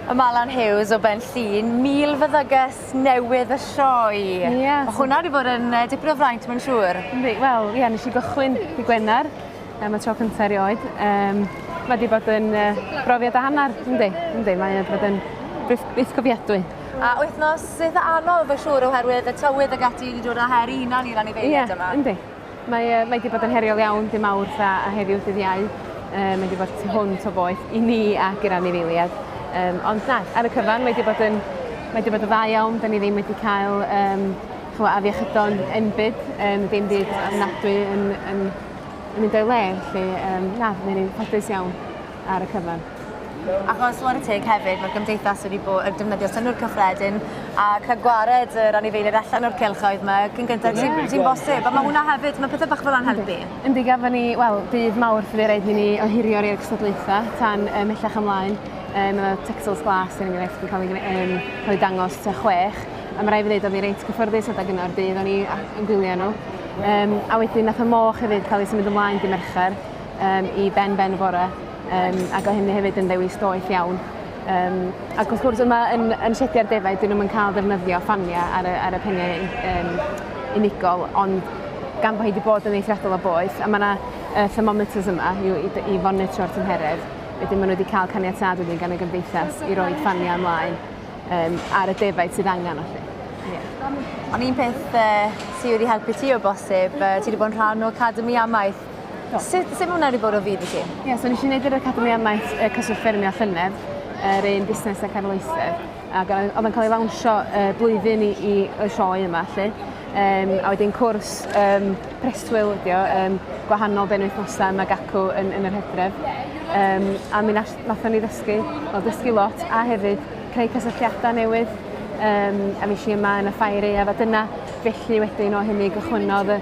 Y Malan Hughes o Ben Llun, mil fyddygus newydd y sioe. Ie. Yeah. Mae hwnna wedi bod yn uh, dipyn o fraint, mae'n siŵr. Wel, ie, yeah, nes i gychwyn i Gwener, um, y tro cyntaf erioed. Um, mae wedi bod yn uh, brofiad a hanner, ynddi, ynddi, mae wedi bod yn beth cofiadwy. A wythnos eitha anodd fy siŵr oherwydd y tywydd ag ati wedi dod â her i hunan i'r anifeiliaid yma. Ie, yndi. Mae, uh, mae wedi bod yn heriol iawn dim awr a, a heddiw dydd iau. Uh, mae wedi bod tu hwnt o boeth i ni ac i'r anifeiliaid. Um, ond na, ar y cyfan mae wedi bod yn, mae wedi bod yn dda iawn. Da ni ddim wedi cael um, chwa, afiechydon enbyd, um, dim byd ofnadwy yn, yn, yn mynd o'i le. Felly, um, na, mae ni'n ffodus iawn. ar y cyfan. Achos ware teg hefyd, mae'r gymdeithas wedi bod yn defnyddio synnwyr cyffredin a cael gwared yr anifeiliaid allan o'r cylchoedd yma cyn gyntaf yeah. ti'n ti bosib. A mae hwnna hefyd, mae pethau bach fel yna'n helpu. Yndi, gafon ni, wel, dydd mawr fyddi rhaid i ni ohirio'r i'r cystadlaethau tan um, mellach ymlaen. Um, mae Texels Glas yn enghraifft yn cael ei, um, cael ei dangos ta chwech. A mae rai fi ddweud, o'n i reit cyffyrddus adag yno'r dydd, o'n i yn gwylio nhw. Um, a wedyn nath y moch hefyd cael ei symud ymlaen di Mercher. um, i ben ben y bore, um, ac o hynny hefyd yn ddewis doeth iawn. Um, ac wrth gwrs yma yn, yn sediau'r defaid, dyn nhw'n cael defnyddio ffaniau ar y, ar y peniau um, unigol, ond gan bod hi wedi bod yn eithriadol o boeth, a mae yna uh, thermometers yma i, i, i fonitro'r tymheredd, wedyn maen nhw wedi cael caniatad wedyn gan y gymdeithas i roi ffaniau ymlaen um, ar y defaid sydd angen allu. Ond un peth uh, sydd wedi helpu ti o bosib, uh, ti wedi bod yn rhan o Academi Amaeth. Sut, sut mae hwnna wedi bod o fyd i chi? Ie, so nes i wneud yr Academi Amaeth y Cyswllt Ffermio Llynedd, yr un busnes ac arloesedd, ac oedd o'n cael ei lawnsio uh, blwyddyn i, i y sioe yma, lle. Um, a wedyn cwrs um, preswyl ydi o, um, gwahanol benwythnosau yma gacw yn, yn yr hedref. Um, a mi nathon ni ddysgu, o ddysgu lot, a hefyd creu cysylltiadau newydd, um, a mi si yma yn y ffair ei a dyna felly wedyn o hynny gychwynnodd y